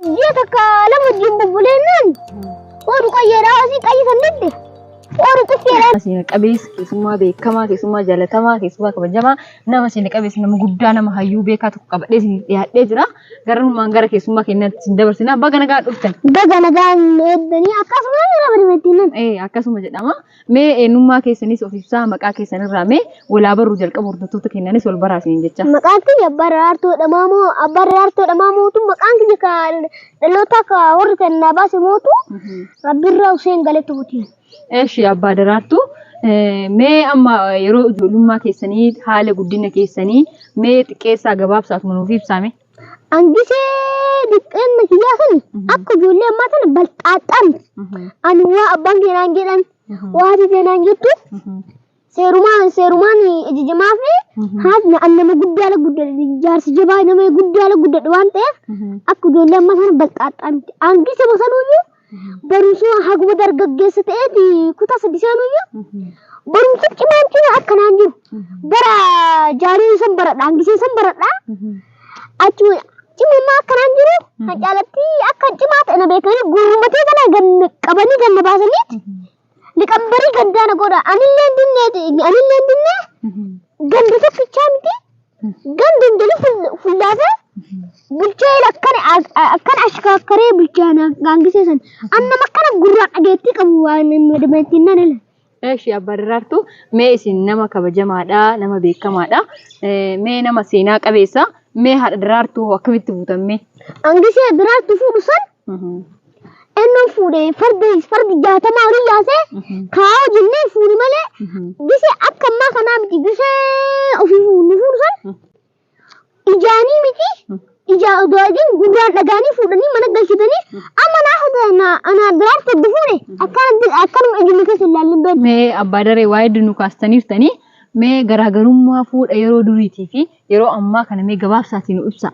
Ji'a takka lama wajjin bubbuleennaan ooru qayyeedhaa asii qayyi san didde ooru qufeedhaa. Seena qabeessa keessummaa beekamaa keessummaa jaalatamaa keessummaa kabajamaa nama seena qabeessa nama guddaa nama hayyuu beekaa tokko qabadhee isin dhiyaadhee jira. Garummaan gara keessummaa keenyaatti isin dabarsina. Baga nagaa dhuftan. Baga nagaan eeddanii akkasumas nama dhibeettiin. Ee akkasuma jedhama. Mee eenyummaa keessanis of ibsaa maqaa keessan irraa mee walaa barru jalqaba hordoftoota keenyanis wal baraa isiniin jecha. Maqaan kiyya abbaa daraartuu jedhamaa moo abbaa daraartuu jedhamaa mootu maqaan kiyya ka dhalootaa ka warri kan naa baase mootu rabbirraa Huseen Galetu butiin. Eshi abbaa daraartuu mee amma yeroo ijoollummaa keessanii haala guddina keessanii mee xiqqeessaa gabaabsaaf nuuf ibsaame. Angisee diqqeen kiyyaa sun akka ijoollee ammaa sana balxaaxxaan ani waa abbaan kee naan jedhan waa haati kee naan jettu seerumaan seerumaan ajajamaa fi haati na- an nama guddaa ala guddadhe jaarsi jabaa nama guddaa ala guddadhe waan ta'eef akka ijoollee ammaa sana balxaaxxaan angisee bosanuyyuu barumsuma haguma dargaggeessa ta'eeti kutaa sadi seenuyyu barumsa cimaan cimaa akkanaan jiru bara jaaree san baradha hangisee san baradha achi cimammaa akkanaan jiru kan caalatti akkan cimaa ta'e na beekanii gurmatee kana ganna qabanii ganna baasaniiti Liqabbarii gandaa na godha. Anilleen dinnee anilleen dinnee ganda tokkichaa miti. Ganda hundalii ful- fullaasa bulchaa jira akkana akkana ashkaakkaree bulchaa na gaangisee san. Amma akkana gurraa dhageettii qabu waan madamattiin nan ala. Eeshi abbaa daraartuu mee isin nama kabajamaadha nama beekamaadha Eh, mee nama seenaa qabeessa mee haadha daraartuu hoo akkamitti buutan mee Angisee daraartuu fuudhu san Ennoon fuudhe farda fardi jaatamaa olii yaasee kaa'oo jennee fuuni malee gise akka ammaa kanaa miti gise ofii fuuni fuudhu san ijaanii miti ijaa odoo argin gurraan dhagaanii fuudhanii mana galchitanii amma naa hunda anaa biraan faddu fuune akkanatti akkanuma ijuma keessa hin laallin beektu. Mee abbaa daree waa hedduu nu kaastaniirtanii mee garaagarummaa fuudha yeroo duriitii fi yeroo ammaa kana mee gabaabsaatii nu ibsaa.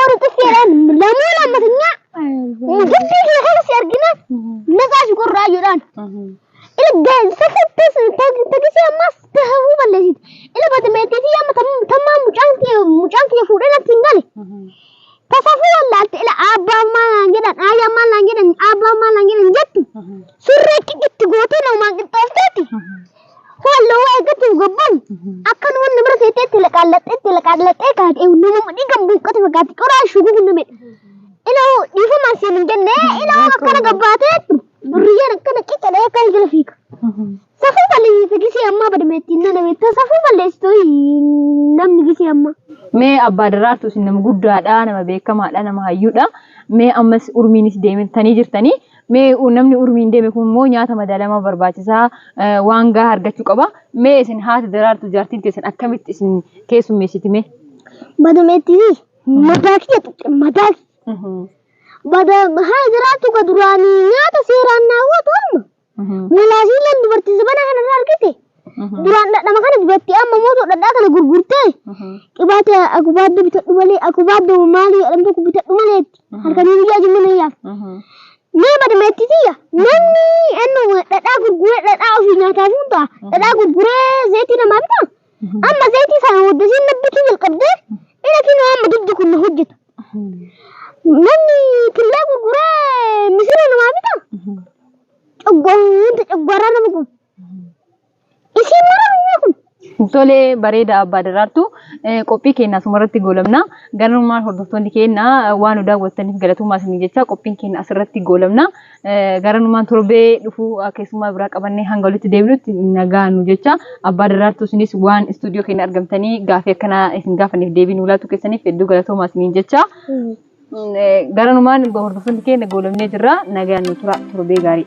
Ortofeeraan lamoo lammatanya gibbii kee kana si argina naqaa si qorraa jedhaan. Ila gaansa fattas tagisee ammas tahuu balleessiti. Ila bata meeteetii amma tammaa mucaan kee mucaan kee fuudhee natti hin gale. Tasafuu wallaalte ila abbaa maal naan jedhan aayyaa maal naan jedhan abbaa maal naan jedhan jettu. Surree qixitti gootee namaan qixxoofteetti. Halluu waa eeggattiin gobboon akkan wanni bira seettee itti laqaallattee itti laqaallattee kaatee nama mudhii kan buuqqate fakkaatti qoraa shuguu kun namedha. Iloo dhiifamaan siin hin jenne iloo akkana gabbaatee durriyyeen akkana qiccalee akka jala fiiga. Safuu balleessite gisee ammaa badameetti inni nameetti safuu balleessitu namni gisee ammaa. Mee abbaa daraartu isin nama guddaadha, nama beekamaadha, nama hayyuudha. Mee ammas urmiinis deemtanii jirtanii Mee namni urmiin deeme kun immoo nyaata madaalamaa barbaachisaa waan gahaa argachuu qaba. Mee isin haati daraartu jaartiin teessan akkamitti isin keessummeessiti mee? Badumeetti madaa kiyya tuqxe madaa kiyya. Bada haa jiraattu ka duraanii nyaata seeraan naawwatu amma. Malaasiileen dubartii zabana kanarra argite Duraan dhadhama kana dibattee amma immoo osoo dhadhaa kana gurgurtee qibaata akubaadda bitadhu malee akubaadda maalii jedhamu tokko bitadhu malee itti halkanii guyyaa jimma na yaaf. Mee badameetti tiyya namni ennu dhadhaa gurguree dhadhaa ofii nyaataa fuun ta'a dhadhaa gurguree zayitii namaa bitaa amma zayitii sana waddasiin nabbituu jalqabdee ina kinoo amma diddi kun na hojjeta. Namni killee gurguree misira namaa bitaa coggoon wanta coggooraa nama gubu. Isiin maraa mi'aa kun. Tole bareeda abbaa daraartuu qophii keenya asumarratti goolabna garummaan hordoftoonni keenya waan nu daawwattaniif galatoomaa isinii jecha qophiin keenya asirratti goolabna garanumaan torbee dhufuu keessummaa biraa qabannee hanga walitti deebinutti nagaa nu jecha abbaa daraartuu isinis waan istuudiyoo keenya argamtanii gaafii akkanaa isin gaafaniif deebii nu laachuu keessaniif hedduu galatoomaa isiniin jecha garanumaan hordoftoonni keenya goolabnee jirra nagaa nu tura torbee gaarii.